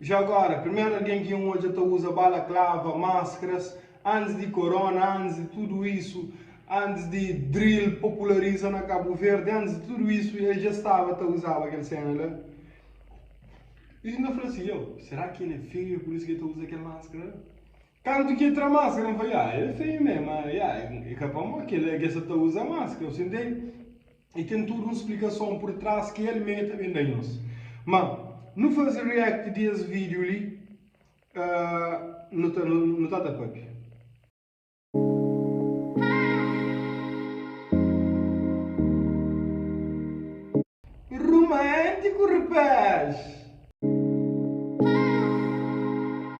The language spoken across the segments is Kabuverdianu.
Ja agora, primeru algen ki N odja ta uza balaklava, maskaras, antis di korona, antis di tudu isu, antis di drill populariza na Kabu Verdi, antis di tudu isu, el ja staba ta uzaba kel sena la. I N ta fla si, Yo, sera ki el é feio, é pur isu ki el ta uza kel maskara la? Kantu ki el tra maskara, N fla, Ya, el é feio mé, má, ya, é ka pamó ki el sta ta uza maskara, bu ta intende? E ten tudu un splikason pur tras ki el mei ta ben da nhos. Ma nu faze react di es video li ahh nu ta ta papia. Rumantiku rapaz.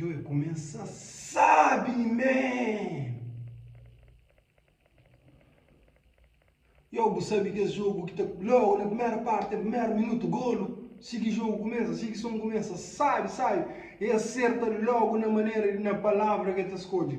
Yo e kumesa sabi mi man. Yo bu sabi kes jogu ki ta logu na primeru parti, primeru minutu golu, si ki jogu kumesa, si ki son kumesa sabi, sabi e aserta logu na manera di na palavra ki e ta skodje.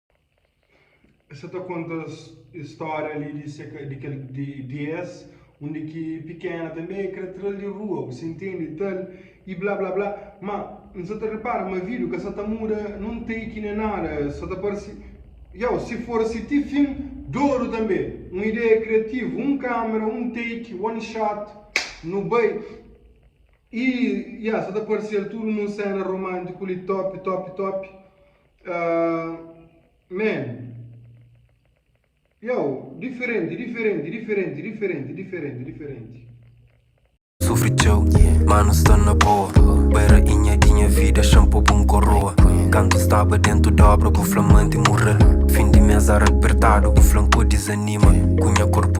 Esa ta konta stória li di se di kel di, di es undi ki pikena tanbê é kre tra-l di rua bu si intende ta-l i blá blá blá ma n sa ta repara ma vidu ka sa ta muda nun tei ki nen nada sa ta parse iau si for si ti fin dodu tanbê un ideia kriativu un kamera un take one shot nu bai i ya sa ta parse-l tudu nun séna romántiku li top top top Amen. Yow, diferenti, diferenti, diferenti, diferenti, diferenti, diferenti. Sufri txeu, ma nu sta na boa Bai rainha di nha vida, xanpo bu n koroa Kantu n staba dentu dobra, bu fla manti murel Fin di mes ara apertadu, bu fla n podi zanima Ku nha korpu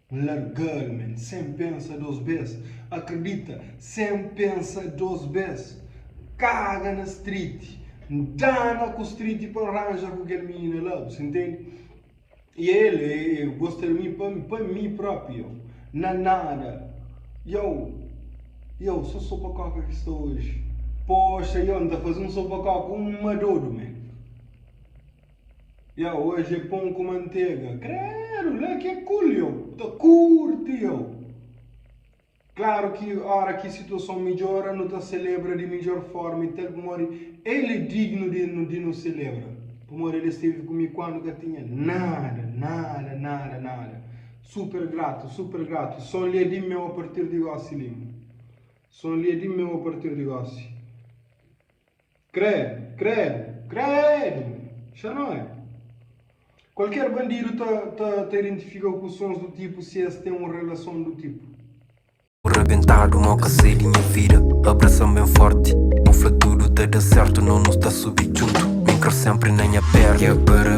N larga-l, men, sen pensa dôs bês. Akridita, sen pensa dôs bês. N kaga na striti. N dana ku striti pa N ranja ku kel minina la, bu ta intende? I el gosta di mi pa pa mi própi, iau. Na nada, iau, iau, sô sopa-kóka ki sta oji. Poxa, iau, N ta faze un sopa-kóka, un madodu, men. Ya oji é pon ku mantega. Kredu la ki é cool yo ta kurti yo. Klaru ki ora ki situason midjora nu ta selebra di midjor forma i tal pamodi el é dignu di nu selebra pamodi el esteve ku mi kandu ka tinha nada nada nada nada super gratu super gratu i son li é di meu a partir di gosi lima son li é di meu a partir di gosi. Kredu, kredu, kredu! Xa no é. Kualker bandidu ta ta ta identifika ku sons du tipu si es ten un relason du tipu. Bu rabentadu mau ka sai di nha vida Abrasa-m ben forti Bu fla tudu ta da sertu No nu sta subi djuntu Min kra senpri na nha perna Kebra,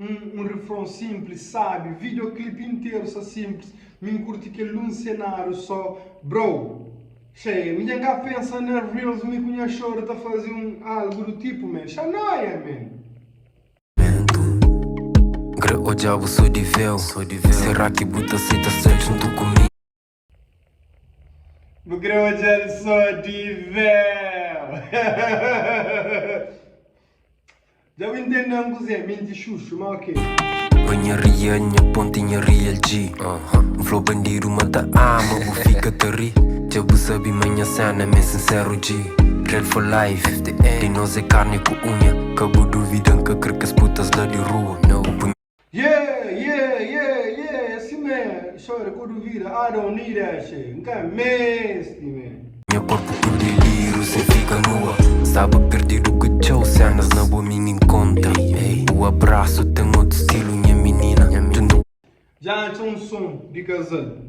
Um, um refrão simples, sabe? Videoclipe inteiro só simples. Me curti que um cenário só, bro. Cheia, me já pensa na reels, me cunha choro, tá fazer um algo do tipo, man. Xanoia, man. Gre o diabo sou de véu Será que buta aceita ser junto comigo? Bu kre odja-l so di véu. Dja bu intende-m kuzê minti xuxu, má ok. Pa nha ria, nha ponti, nha real G N fla-u bandidu ma ta ama bu fika ta ri Dja bu sabe ma nha séna m'é sincero G Real for life, di nos é karni ku unha Ka bu duvida N ka kre kes putas la di rua Ku punheta Ye ye ye ye si me xore ku duvida I don't need that shit N ka mesti me. Nha korpu tudu é liru sen fika nua Staba perdidu ku txeu sénas na bo mi nin konta Bu abrasu ten otu stilu nha minina Tu nu. Dja atxa un son di kazal.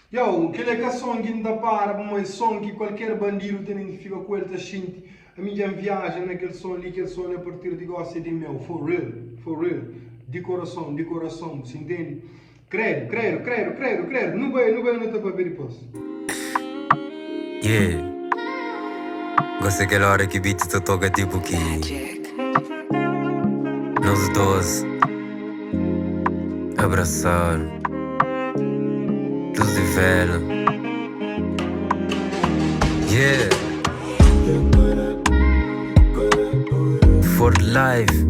Yow, kel é ka son ki N ta para pa, ma é son ki kualker bandidu ta tenta fika ku el ta xinti. Ami dja N viaja na kel son li, kel son li a partir di gosi é di meu, for real, for real, di korason, di korason, bu sintende? Kredu, kredu, kredu, kredu, kredu, nu bai, nu bai, nu ta papia dipôs. Yeah Gosi é kel óra ki beat ta toka tipu ki Nos dôs abrasadu Lus di véla Yeah For life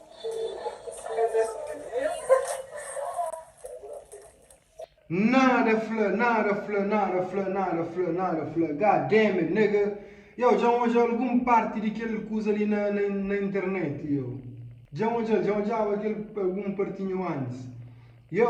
Nada fla, nada fla, nada fla, nada fla, nada fla. God damn it, nigga! Yo, dja N odja algun parti di kel kuza li na, na, na internet, yo. Dja N odja-l, dja N odjaba kel algun partinhu antis. Yo!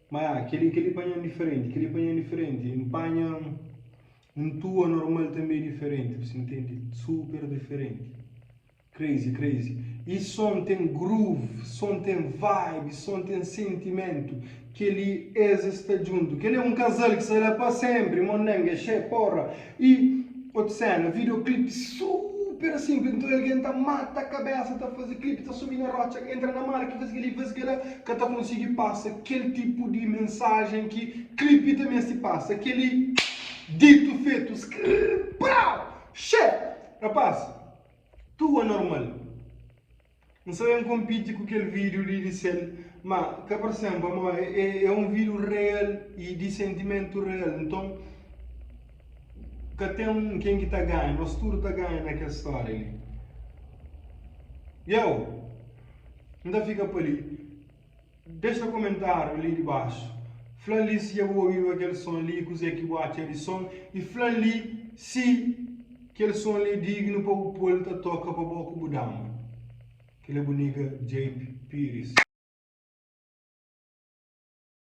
Ma kel-li, kel-li panha-m diferenti, kel-li panha-m diferenti. N panha un tua normal tanbê diferenti, bu sta ntende? Super diferenti. Crazy, crazy. E son ten groove, son ten vibe, son ten sentimentu. Kel-li es sta djuntu. Kel-li é un kazal ki sta la pa sénpri, mondeng, axé, porra! E otu sena, videoclipe super simples, nton algen ta mata kabesa ta faze clipe, ta subi na rotxa, entra na mala ki faze keli, faze kela, ka ta konsigi pasa kel tipu di mensajen ki clipe ta mesti pasa. Keli ditu fetu, skrrr, prau, xe! Rapaz, tua normal. N sta ben konpiti ku kel vídiu di disel, má ka parsem pamó é un vídiu real y di sentimentu real. Nton ka ten ken ki ta ganha, nos tudu ta ganha na kel stória li. Yow! N ta fika pa li. Dexa komentáriu li dibaxu. Fla li si dja bu obiba kel son li i kuzê ki bu atxa di son i fla li si kel son li dignu pa bu pô-l ta toka pa bo ku bu dama. Kel-la é bu niga Jayp Piris.